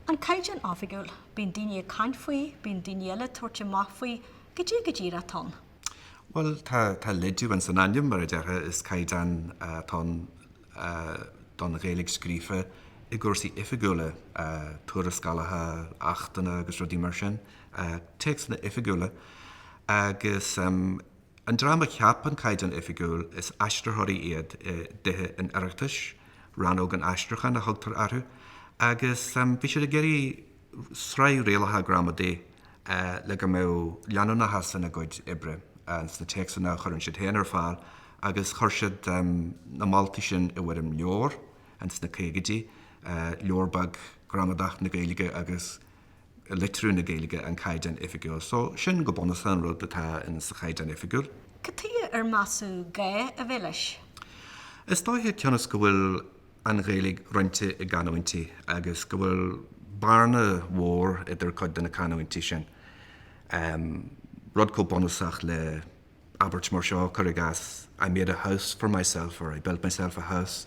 An Caighdeán Oifigiúil, bíonn daoine ag caint faoi, bíonn daoine eile ag tabhairt amach faoi, goidé go díreach atá ann. Bhuel, tá, tá leid dó ins an ainm, mar a déarfá, is caighdeán atá ann don Ghaeilge scríofa i gcúrsaí oifigiúla, tuarascálacha, achtanna agus rudaí mar sin, téacsanna oifigiúla agus An dream a cheap an Caighdeán Oifigiúil, is aistritheoirí iad i dTithe an Oireachtais, Rannóg an Aistriúcháin a thugtar orthu, agus bhí siad ag iarraidh sraith rialacha gramadaí le go mbeadh leanúnachas ina gcuid oibre sna téacsanna a chuireann siad féin ar fáil agus chuir siad na moltaí sin i bhfoirm leabhair sna caogaidí, leabhar beag, Gramadach na Gaeilge agus. litriú na Gaeilge an Caighdeán Oifigiúil. So, sin go bunúsach an rud atá in sa Chaighdeán Oifigiúil. Cad tuige ar measadh gá a bheith leis? Is dóiche cionn is go bhfuil an Ghaeilge roinnte i gcanúintí agus go bhfuil bearna mhór idir cuid de na canúintí sin, rud chomh bunúsach le. abairt mar seo, cuir i gcás, I made a house for myself or I built myself a house.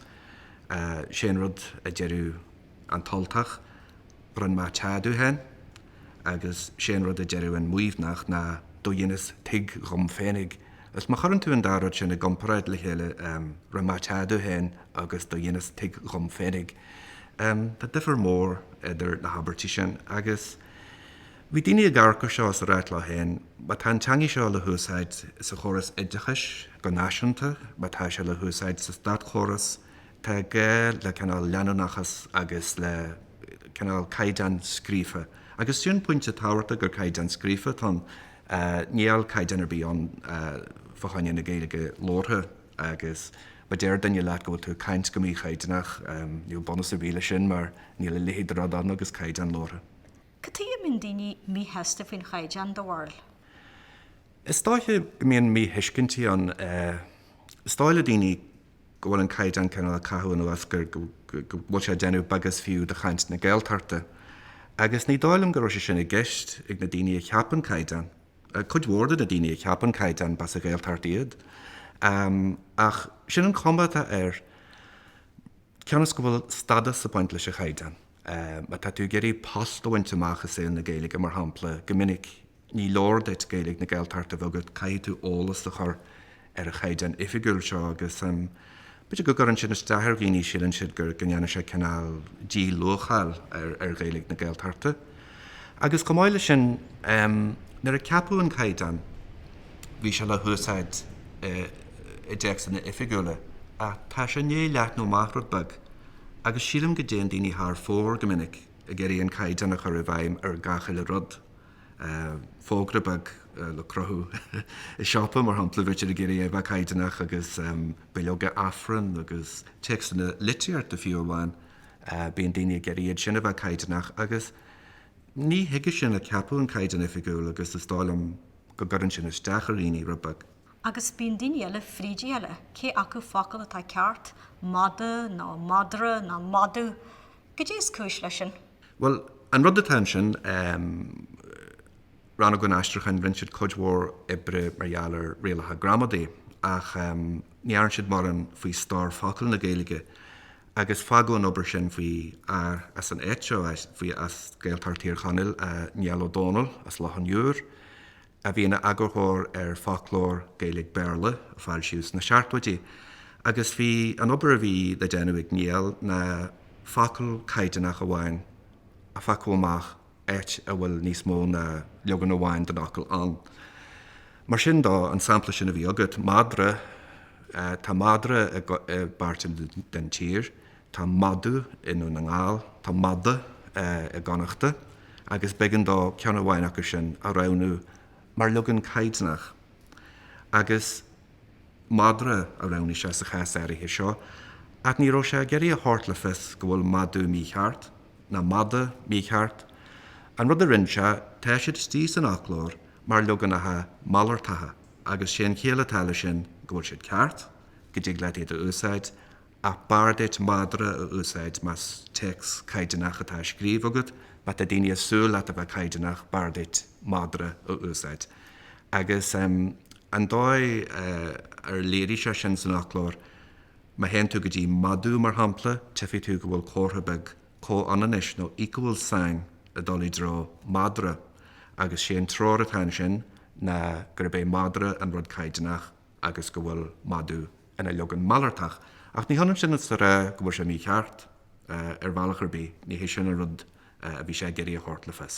Sé an rud a deireadh an tUltach, rinne mé teach dom féin, agus sé an rud a deireadh an Muimhneach ná do dheineas tigh dhom féinig. Is má chuireann tú an dá rud sin i gcomparáid le chéile, rinne mé teach dom féin agus do dheineas tigh dhom féinig, tá difir mór idir na habairtí sin agus. Bhí daoine ag amharc ar seo is ag ráit leo féin, má tá an teangaidh seo le húsáid sa chóras oideachais go náisiúnta, má tá sé le húsáid sa státchóras, tá gá le cineál leanúnachas agus le cineál caighdeán scríofa. Agus sin pointe tábhachta gur caighdeán scríofa atá ann, níl caighdeán ar bith ann fá choinne na Gaeilge labhartha agus má deir duine leat go bhfuil tú ag caint go mí-chaighdeánach, níl bunús ar bith leis sin mar níl a leithéid de rud ann agus caighdeán labhartha. Cad tuighe a mbíonn daoine míshásta faoin chaighdeán den Bhéarla? Is dóiche go mbíonn míthuiscintí ann. Is dóigh le daoine go bhfuil an caighdeán cineál ag caitheamh anuas, go bhfuil sé ag déanamh beag is fiú de chaint na Gaeltachta. Agus ní dóigh liom go raibh sé sin i gceist ag na daoine a cheap an caighdeán. Cuid mhór de na daoine a cheap an caighdeán, b'as an Ghaeltacht iad. Ach sin an chuma atá air, cionn is go bhfuil stádas ag baint leis an chaighdeán. Má tá tú ag iarraidh post a bhaint amach i saol na Gaeilge, mar shampla, go minic ní leor duit Gaeilge na Gaeltachta a bheith agat, caithfidh tú eolas a chur ar an Chaighdeán Oifigiúil seo agus b'fhéidir go gcuireann sin isteach ar dhaoine, síleann siad go ndéanann sé cineál díluacháil ar Ghaeilge na Gaeltachta. Agus chomh maith leis sin, nuair a ceapadh an Caighdeán, bhí sé le húsáid i dtéacsanna oifigiúla ach tá sé i ndiaidh leathnú amach rud beag. agus sílim go dtéann daoine thar fóir go minic ag iarraidh an caighdeán a chur i bhfeidhm ar gach uile rud. Fógra beag le cruthú i siopa, mar shampla, bítear ag iarraidh é a bheith caighdeánach, agus bileoga Aifrinn agus téacsanna litríochta fiú amháin, bíonn daoine ag iarraidh iad sin a bheith caighdeánach agus ní chuige sin a ceapadh an Caighdeán Oifigiúil agus is dóigh liom go gcuireann sin isteach ar dhaoine rud beag. Agus bíonn daoine eile, fríd a chéile, cé acu focal atá ceart, mada nó madra nó madadh? Goidé is cúis leis sin? Bhuel, an rud atá ansin, Rannóg an Aistriúcháin, rinne siad cuid mhór oibre mar gheall ar rialacha gramadaí, ach ní dhearn siad mórán faoi stór focal na Gaeilge, agus fágadh an obair sin faoi fhear as an áit seo, faoi as Gaeltacht Thír Chonaill, Niall Ó Dónaill as Loch an Iúir. a bhí ina eagarthóir ar Foclóir Gaeilge-Béarla a foilsíodh sna seachtóidí agus bhí an obair a bhí le déanamh ag Niall ná focal caighdeánach amháin a phiocadh amach áit a bhfuil níos mó ná leagan amháin den fhocal ann. Mar sin de, an sampla sin a bhí agat, madra, tá madra i bpáirt den tír, Tá madadh i nDún na nGall. Tá mada i gConnachta agus b'eigean dó ceann amháin acu sin a roghnú mar leagan caighdeanach. Agus madra a roghnaigh sé sa chás áirithe seo, ach ní raibh sé ag iarraidh a thabhairt le fios go bhfuil madadh mícheart, ná mada mícheart. An rud a rinne sé, tá siad istigh san fhoclóir mar leaganacha malartacha agus sé an chiall atá leis sin go bhfuil siad ceart, go dtig leat iad a úsáid, ach b'fhearr duit madra a úsáid más téacs caighdeánach atá á scríobh agat. Má tá daoine ag súil leat a bheith caighdeánach, b'fhearr duit madra a úsáid. Agus an dóigh ar léirigh sé sin san fhoclóir, má théann tú go dtí madadh, mar shampla, tífidh tú go bhfuil comhartha beag comhionannais nó equal sign ag dul i dtreo madra, agus sé an treoir atá ansin ná gurb é madra an rud caighdeánach. agus go bhfuil madadh ina leagan malartach, ach ní hionann sin is a rá go bhfuil sé mícheart, ar bhealach ar bith, ní hé sin an rud a bhí sé ag iarraidh a thabhairt le fios.